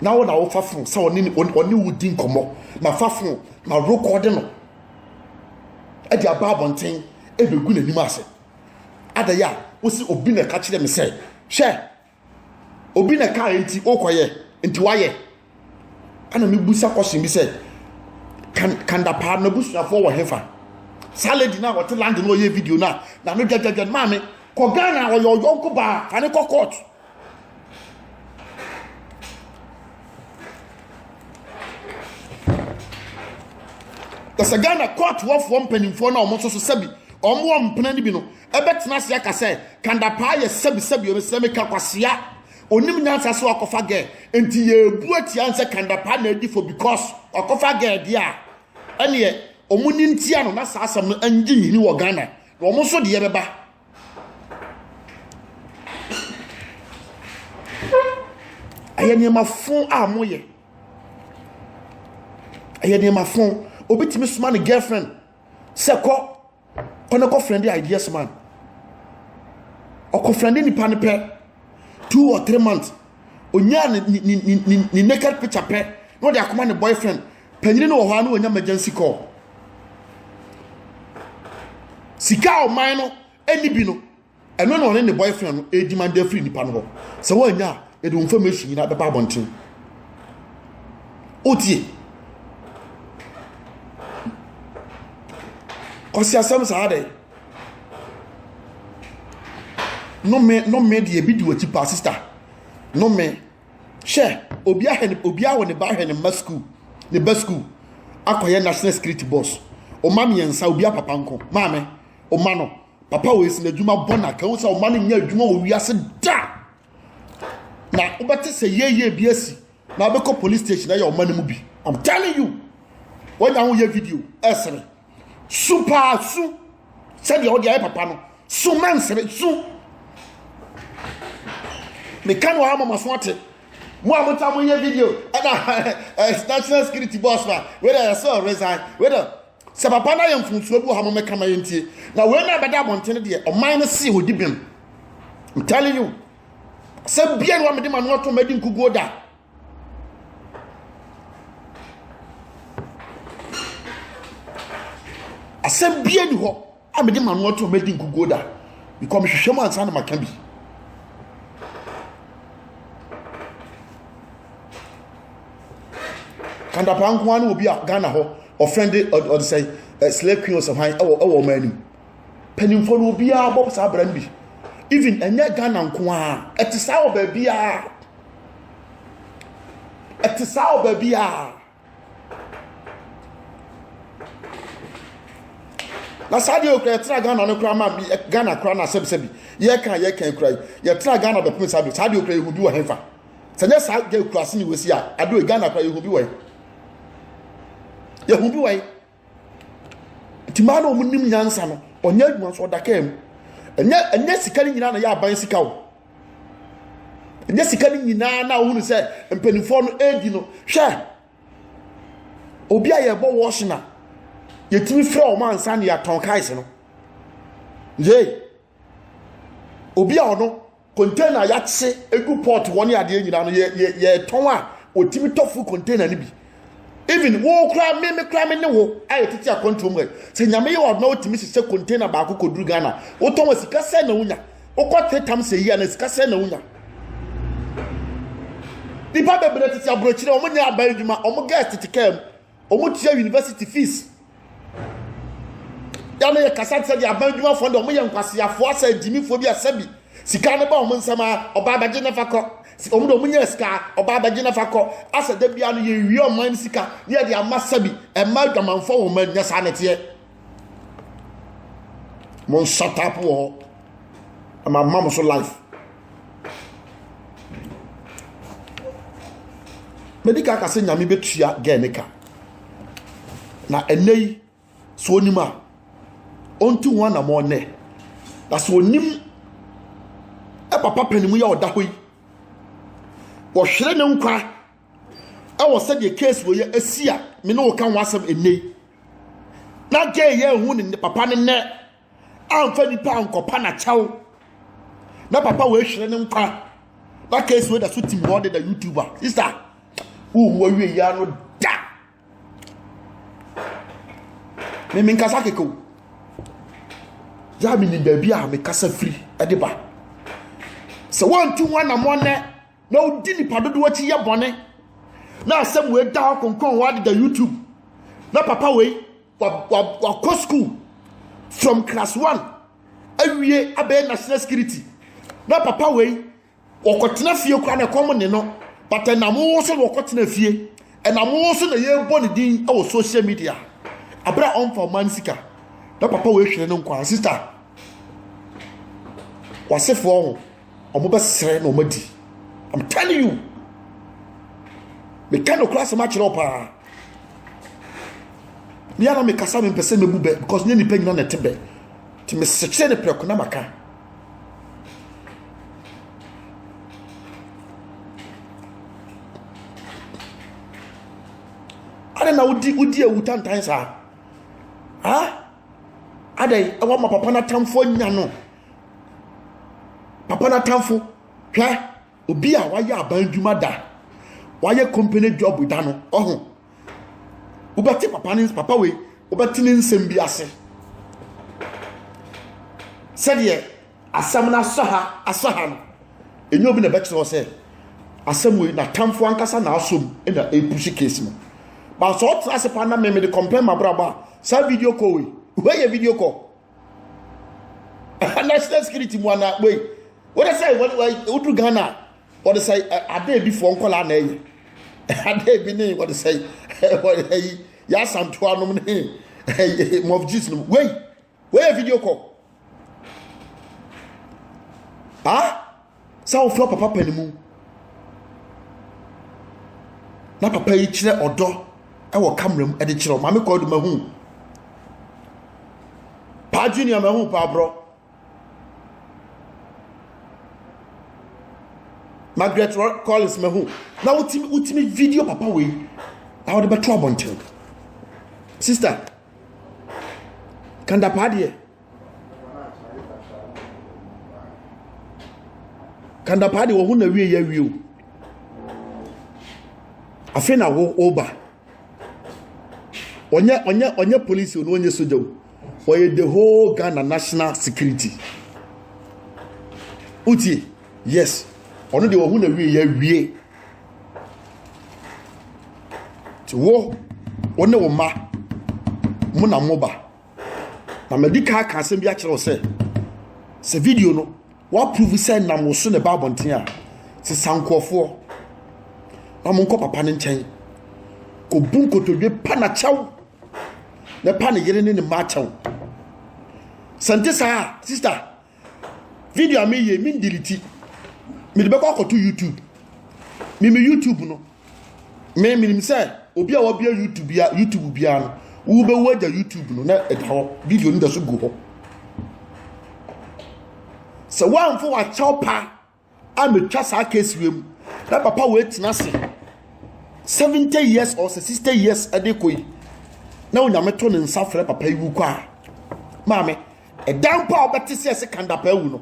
na wo na wofa fon sɛ ɔne ɔne wo di nkɔmmɔ na fa fon na rekɔde no ɛde aba abɔnten ɛbɛgu n'anim ase adayɛ a wosi obi na ɛka kyerɛ me sɛ hwɛ obi na ɛkae nti wokɔyɛ nti wayɛ ɛna mebusa question bi sɛ kandapaa na busuafoɔ wɔ hefa saa lady no a wɔte land no ɔyɛ video no a na no dwadwadwa maame kɔ ghana ɔyɛ ɔyɔnko baa fa ne kɔ court ɛsɛ ghana court wɔfoɔ mpanimfoɔ no a wɔn nso so sɛbi wɔn wɔn mpena no bi no Ɛbɛtena ase aka sɛ kanda paa yɛ sɛbi sɛbi omi sɛ meka kwasea onim nyansa sɛ wakɔfa gɛ nti yɛbu atia nsɛ kanda paa na adi fo because wakɔfa gɛ deɛ a ɛneɛ ɔmo ni ntia no na saa asɛm no ɛngye nhini wɔ Ghana na ɔmo nso deɛ bɛba ɛyɛ nneɛma fo a moyɛ ɛyɛ nneɛma fo obi tumi soma ne girlfriend sɛ kɔ kɔ ne kɔ friend ideas man ɔkɔ friend nipa ne pɛ two or three months onyaa ne ne ne ne naked picture pɛ na ɔde akoma ne boyfriend panyin no wɔ hɔ a na onya emergency call sika a ɔman no ɛni bi no ɛno na ɔne ne boyfriend no ɛredi ma de afiri nipa no hɔ sɛ wɔanya a ɛde wɔn information nyinaa bɛba abɔnten wotie kwasi asɛm saa dɛ nome nome deɛ ebi di wɔ akyi paa sista nome hwɛ obi ahɛ ne obi awɔ ne ba ahɛ ne mma sukuu ne ba sukuu akɔyɛ national security boss ɔma mmiɛnsa obi apapa nko maame ɔma no. Papa wei si n'adwuma bɔ na kɛhu sɛ ɔma no nyɛ adwuma wɔ wiase da. Na wobɛte sɛ yɛyɛ bi asi na wobɛkɔ police station ɛyɛ ɔma no mu bi. I'm telling you. Wanya ho yɛ video ɛsere. Su paa su sɛdeɛ wode ayɛ papa no. Su mɛnsere su. Meka no ama maso ate. Mo a mota mo yɛ video ɛna eh, national security boss ma wɛdɛ yɛ sɛ resign wɛdɛ Sɛ papa no ayɛ mfomsoɔ bi wɔ ha mommɛka ma yɛntie na wei no a bɛda abɔnten no deɛ ɔman no see wɔdi bem I'm telling you sɛ bia no wamede ma no ato madi nkuguo da asɛm bia ni hɔ A mede m'ano ato a madi nkuguo da bikɔ mehwehwɛ mu ansa na maka bi. Kandapa nko ara ne obi a Ghana hɔ ɔfɛnde ɔde sɛ eh, slay queen ɔsɛ hwan ɛwɔ ɛwɔ ɔman anim mpanimfoɔ no obiara bɔ saa abira no bi even ɛnyɛ Ghana nko ara ɛte saa wɔ baabiara ɛte saa wɔ baabiara. na saa deɛ okura yɛtra ghana no kura ma bi ghana kura na sɛbisɛbi yɛka yɛka kura yi yɛtra ghana bɛpem saa deɛ saa deɛ okura yɛhu bi wɔ hɛnfa sɛ nyɛ saa deɛ okura ase ne wɔsi a adeɛ ghana kura yɛhu bi wɔ hɛ yɛhu bi wɔ hɛ nti maa na wɔn nim nyansa no ɔnyɛ adwuma nso ɔda kaa mu ɛnyɛ ɛnyɛ sika no nyinaa na yɛ aban sika o ɛnyɛ sika no nyinaa na wɔn sɛ mpanimfoɔ no ɛredi no hwɛ obi a yɛbɔ wɔɔhyina yɛtumi fira wɔn ansa na yɛatɔn kaes no yee. obi a ɔno container yɛakye egu pot hɔ ne adeɛ nyinaa no yɛ yɛ yɛtɔn a otimi tɔ full container no bi even wo koraa me me koraa me ne wo a yɛtete akwantuo mu ɛ sɛ nyame yɛ ɔdona wotumi hyehyɛ container baako kɔduru ghana wotɔn a sika sɛ na wonya wokɔ tetam sɛ yi a na sika sɛ na wonya nipa bebree tete aburokyire wɔn nyɛ aban adwuma wɔn girls tete kaa mu wɔn tua university fees yà no yɛ kasa sɛ de aban adwumafoɔ de wɔn yɛ nkwaseafoɔ asɛ nkyimifoɔ bi asɛ bi sika no ba wɔn nsɛm a ɔbaa bɛgye nafa kɔ wɔn de wɔn nyɛ sika ɔbaa bɛgye nafa kɔ asɛ da bia no yɛ wie ɔman no sika ne yɛ de ama sɛ bi ɛma adwamanfoɔ wɔn nyɛ saa nɛteɛ. mo nsa tap wɔ hɔ ama ma mo so life medi ka kase nyame bɛtua gɛɛ ne ka na ɛnɛ yi so onim a ɔntu ho anamɔ nnɛ na so onim papa panimu yɛ ɔda hɔ yi wɔhwere ne nkwa ɛwɔ sɛdeɛ case wɔ yɛ asi a me ne wo ka ho asɛm ɛnɛ yi na gay yɛ ehu ne papa ne nɛ amfa nipa ankɔpa na kyɛw na papa wɔ ehwere ne nkwa na case wɔ da so tim hɔ de da youtube a sister wohu awie yi ano da me me nkasa keke o yɛ a menim baabi a mekasa firi de ba sɛ wɔntu ho anamɔ nɛ na wodi nipa dodoɔ akyi yɛ bɔne na asɛm wei da hɔ konkɔn hɔ adeda youtube na papa wei wakɔ school from class one awie abɛyɛ national security na papa wei wɔkɔtena fie koraa na ɛkɔm ne no but ɛnam wo so na wɔkɔtena fie ɛnam wo so na yɛrebɔ ne din wɔ social media abere a ɔmfa ɔma no sika na papa wei hwere no nkwa sista wasefoɔ ho wɔn bɛsrɛ na wɔn adi i'm telling you meka no kura asɛm akyerɛ wo paa mi ara mekasa mi mpɛ sɛ mebu bɛ because nye nipa nyina na ɛte bɛ te mesekyerɛ ne prɛko na maka adɛn na wodi wodi awu tantan saa ha adɛn ɛwɔ ma papa no atamfoɔ nya no papa no atamfo hwɛ obi a wayɛ aban adwuma da wayɛ company job da no ɔho wobɛte papa ne papa wei wobɛte ne nsɛm bi ase sɛdeɛ asɛm no asɔ ha asɔ ha no ɛnyɛ obi na ɛbɛkyerɛ wɔ sɛ asɛm wei natamfo ankasa na asom na ɛpusi case no baasɛ ɔtra ase paa na mmemme de compare mabrabɔ a saa video call wei wei yɛ video call national security mu anaa wei wɔde sɛ wodu ghana a wɔde sɛ adeɛ bi foɔ nkɔla na ɛyɛ adeɛ bi ne wɔde sɛ wɔde ayi yasantoa nom ne ɛyɛ mɔfjis nom wei wei yɛ video call ah. sɛ wofi ɔpɛ papa no mu na papa yi kyerɛ ɔdɔ wɔ kamera mu de kyerɛ maame kɔɔ do mahu paa junior mahu paa borɔ margaret collins mahu na wotumi wotumi video papa wei na wɔde bɛto abɔnten sista kanda paa deɛ kandapaa de wɔ ho na wie yɛ wie o afei na wo woba ɔnyɛ ɔnyɛ ɔnyɛ polisi o na ɔnyɛ soja o ɔyɛ the whole ghana national security utie yes ɔno de wɔ ho na wie yɛ wie ti wo wɔne wo mma mo na mo ba na madi kan aka asɛm bi akyerɛ wo sɛ sɛ video no woaprove sɛ nam wo so na ɛba abɔnten a sɛ sa nkurɔfoɔ na monkɔ papa no nkyɛn kɔbu nkotodwe pa na kyɛw na pa ne yere ne ne mma akyɛw sɛ nte saa a sista video a meyɛ me ndeliti mede bɛkɔ akɔto youtube mimi youtube no me menim sɛ obi a wabia youtube bia youtube biara no wobɛwu agya youtube no na ɛda hɔ video no da so gu hɔ sɛ woamfa wakyɛw paa a metwa saa case wei mu na papa wei tena ase seventy years or sixty years ɛde kɔ yi na onyame to ne nsa frɛ papa yi wu kɔ a maame ɛdan mpo a ɔbɛte sɛ ɛsɛ kandapa awu no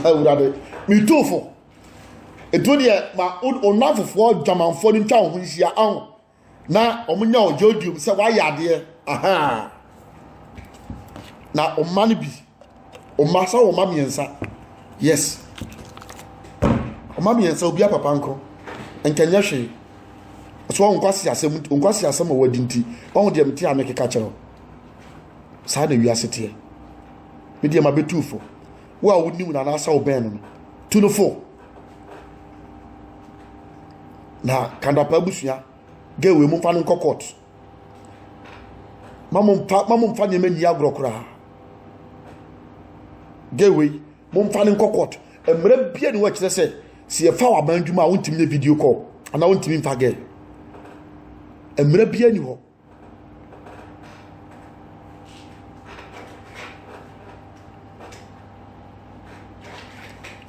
awurade metuufo ɛtu deɛ ma ɔnamfofoɔ dwamanfoɔ no ntwa wo ho nhyia aho na wɔnya ɔgye odiom sɛ wayɛ adeɛ ahaa na ɔma no bi ɔma sɛ ɔma mmiɛnsa yes ɔma mmiɛnsa obi apapa nko nkɛnyɛ hwee so wɔn nkwasi asɛm nkwasi asɛm a wɔadi nti wɔn deɛ mte a mekeka kyerɛ saa na wiase teɛ me deɛ ma bɛtu fo wo a wonim no anaasɛ wobɛn no no tu no fo na kadapa abusua girl wei mo nfa no nkɔ court ma mo nfa ma mo nfa nneɛma nyi agorɔ koraa girl wei mo nfa no nkɔ court mmerɛ bia ne wɔkyerɛ sɛ si yɛfa wɔ aban adwuma a wontumi nyɛ video call anaa wontumi nfa girl mmerɛ bia ni hɔ.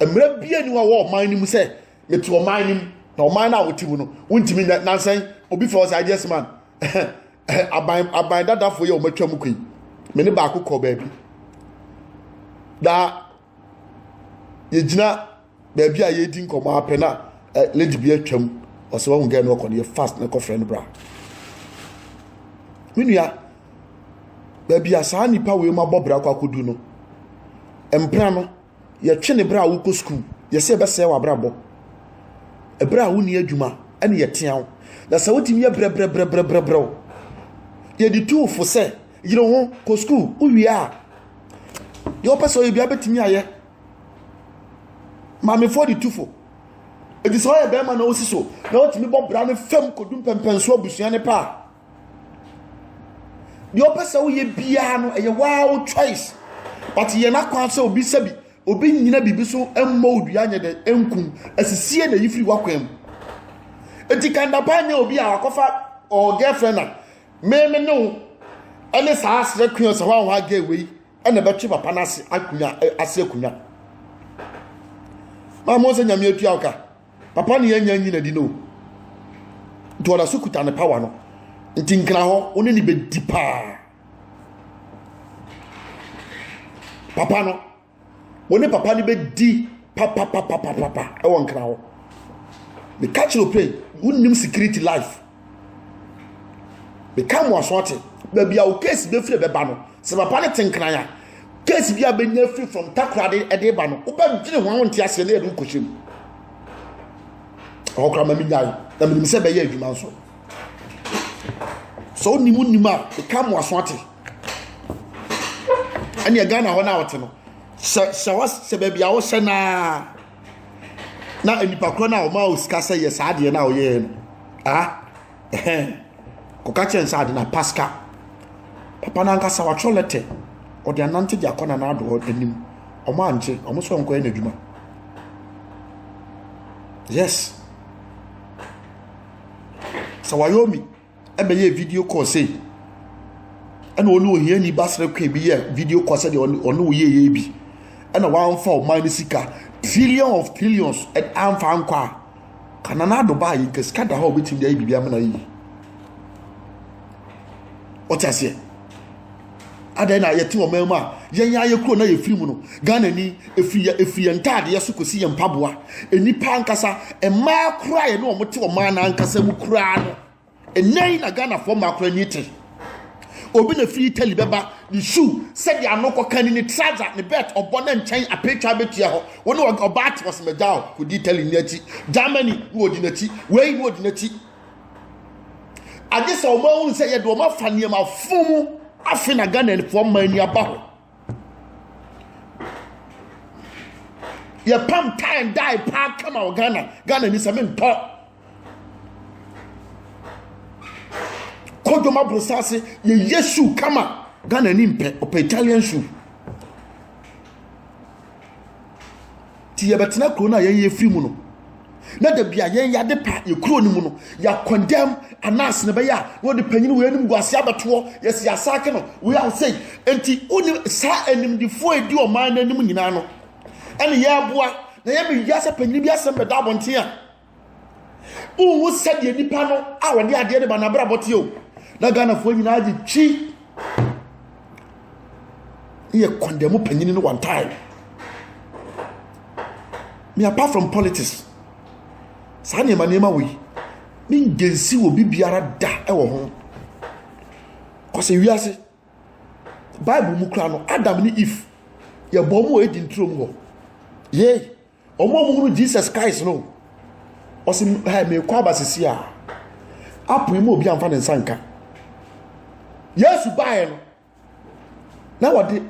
mmerɛ bia ni wɔ ɔman no mu sɛ mete ɔman no mu na ɔman no a wote mu no wontumi nyɛ nansɛn obi fɛ ɔsɛ agyes man aban aban dadafoɔ yi a wɔatwa mu kɔ yi me ne baako kɔ baabi na yɛgyina baabi a yɛredi nkɔmmɔ ara pɛ na ɛ lady bi atwam ɔsɛ wahu gɛɛ no ɔkɔ no yɛ fast na ɛkɔfrɛ no bra me nua baabi a saa nipa wei ma bɔ bra kɔ akɔdu no mpena no yɛtwe ne bra a wokɔ sukuu yɛsɛ ɛbɛsɛe w'abrabɔ ɛberɛ a wonni adwuma ɛne yɛtea wo na sɛ wotumi yɛ brɛbrɛbrɛbrɛbrɛw yɛde tu fo sɛ Yere wo ho, kɔ sukuu, wowie a deɛ wopɛ sɛ ɔyɛ bia bɛtumi ayɛ. Maamefoɔ de tufo. Ɛti sɛ ɔyɛ bɛrima na wosi so na wotumi bɔ bra no fam kɔdu mpɛmpɛnso abusua no paa. Deɛ wopɛ sɛ woyɛ biara no ɛyɛ waa wo choice. But yɛ no akwan sɛ obi sɛ bi, obi nyina biribi so mmɔ wo dua nyɛ dɛ nkum, asisie na yi firi w'akwan mu. Ɛti kandapa nyɛ obi a wakɔfa ɔɔ girlfriend a me me ne wo ɛne saa asere akonnwa sɛ hɔ a hɔ a gay wei ɛna ɛbɛtwe papa no ase akonnwa ase akonnwa maa mo sɛ nyame atua wo ka papa ne yɛnya nyina di no nti ɔda so kuta ne power no nti nkena hɔ wo ne ne bɛdi paa papa no wo ne papa no bɛdi papapapapapa ɛwɔ nkra hɔ meka kyerɛ ope wonim security life meka mo aso ate baabi a wo case bɛfiri bɛba no sɛ papa no te nkran a case bi a bɛnya firi from takorade ɛde ba no wobɛdwene ho a wonte aseɛ na yɛde wokɔhyɛ mu ɔkora ma menyae na menim sɛ bɛyɛ adwuma nso sɛ wonim wonim a meka mo aso ate ɛneɛ ghana hɔ no a wɔte no sɛ sɛ wɔ sɛ baabi a wɔhyɛ naa na nipa korɔ no a wɔn a wɔsika sɛ yɛ saa adeɛ no a wɔyɛɛ no ah ɛhɛn kɔka kyɛn sɛ ade na pasika papa no ankasa watwerɛ lɛtɛ ɔde anante de akɔ na n'adoɔ anim wɔn ankye wɔn nso nkɔyɛ n'adwuma yes sɛ wɔayɛ omi. ɛbɛyɛɛ video call sei ɛna ɔne ohiani ba serekwe bi yɛ video call sɛdeɛ ɔne ɔne wo yɛyɛ bi ɛna wamfa ɔman no sika trillion of trillions ɛna amfa ankɔ a kana na ado baa yi nka sika da hɔ a obetumi de ayɛ biribi ama na yi ɔte aseɛ adɛn na yɛte ɔman mu a yɛn ayɛ kuro na yɛfiri mu no ghana ni ɛfiri yɛ ɛfiri yɛn ntaadeɛ so kɔsi yɛn mpaboa nnipa ankasa mmaa koraa yɛne wɔn te ɔman no ankasa mu koraa no ɛnɛ yi na ghanafoɔ mmaa koraa ni te obi na firi italy bɛba ne shoe sɛdeɛ ano kɔka ni ne trouser ne belt ɔbɔ ne nkyɛn apɛtwa bɛtua hɔ wɔne ɔbaa te wɔsɛmagya o kɔdi italy ni akyi germany ne wɔdi n'akyi wei ne wɔdi n'akyi agye sɛ wɔn ahunu sɛ yɛde wɔn afa nneɛma fun mu afe na ghanafoɔ mma ani aba hɔ yɛpam tie and die paa kama wɔ ghana ghana ni sɛ mentɔ kodwom aborosa ase yɛyɛ su kama ghana ni mpɛ ɔpɛ italian su nti yɛbɛtena kuro no a yɛn yɛfiri mu no na da bi a yɛn yɛade pa yɛ kuro no mu no yɛakɔndɛm anaase no bɛyɛ a na wɔde panyin wei anim gu ase abɛtoɔ yɛsi asaake no wei a wosɛi nti wonim saa animdefoɔ ɛdi ɔman no anim nyinaa no ɛne yɛaboa na yɛbɛwia sɛ panyin bi asɛm bɛda abɔnten a wohu sɛdeɛ nipa no a wɔde adeɛ no ba no abrabɔ teɛ o na ghanafoɔ nyinaa gye twi yɛ kɔndɛmu panyini no one time me apart from politics saa nneɛma nneɛma wɔ yi ne ngensi wɔ bi biara da ɛwɔ ho kɔsɛ wiase bible mu kura no adam ne eve yɛbɔ mu wɔ edi nturo mu hɔ yee Wɔn a wɔhunu Jesus Christ no, ɔsi ha mekɔ aba sisi a, apon mu obi anfa ne nsa nka. Yesu baeɛ no, na wɔde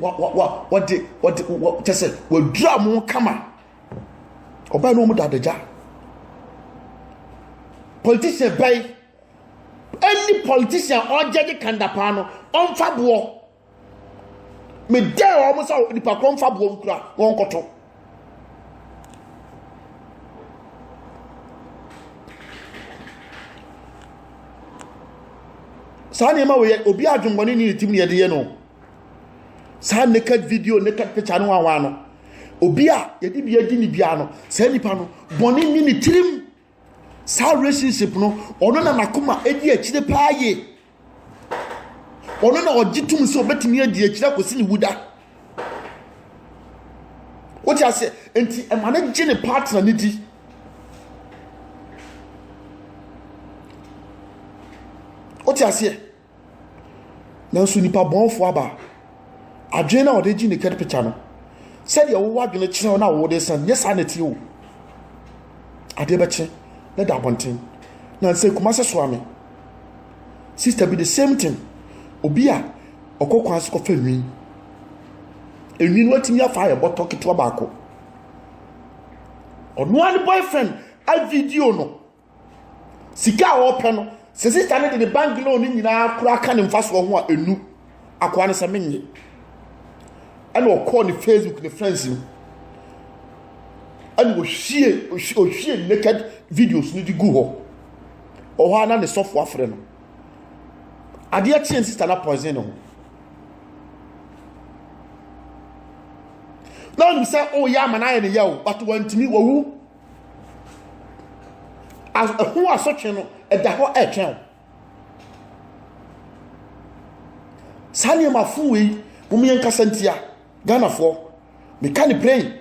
wɔde wɔde kyɛ sɛ wɔadura mo kama ɔbaa no mu da adagya politician bɛyi ɛni politician ɔgyɛ de kanda paa no ɔnfa boɔ. medɛɛ wɔn sɛ nipa korɔ mfa boɔ nkura wɔn nkɔto saa nneɛma wɔ yɛ obi adwemmɔne ne ne tim ne yɛde yɛ no saa naked video naked picture no wawa no obi a yɛde bi adi ne bia no saa nipa no bɔne ne ne tirim saa relationship no ɔno na n'akoma edi akyire paa yie ɔno na ɔgye tum sɛ ɔbɛtumi adi akyire akɔsi ne wuda wote aseɛ nti ɛma no gye ne partner no di wote aseɛ Nanso nipa bɔnfo aba. Adwene na ɔde gye naked picture no. Sɛdeɛ wowɔ adwene kyerɛ wo na wode san nyɛ saa na ɛteɛ o. Adeɛ bɛkye na da abɔnten. Na nsɛ Kumase soa me. Sister bi the same thing. Obi a ɔkɔ kwan so kɔfa nwi. Enwi no atumi afa ayɛ bɔtɔ ketewa baako. Ɔno ara ne boyfriend a video no sika a ɔpɛ no sɛ sista no de ne bank loan no nyinaa koraa ka ne mfasoɔ ho a ɛnu akoa no sɛ menye ɛna ɔkɔɔ ne facebook ne friends no ɛna ɔhwie ɔhwie naked videos no de gu hɔ ɔhɔ a na ne sɔfo afrɛ no adeɛ kyeɛ sista no poison no ho na ɔnim sɛ ɔyɛ ama no ayɛ ne yɛ o but wantumi wawu As ɛho asotwe no ɛda hɔ ɛretwɛn wo. Saa nneɛma fo wei wɔn yɛn kasa ntia Ghanafoɔ meka ne plain.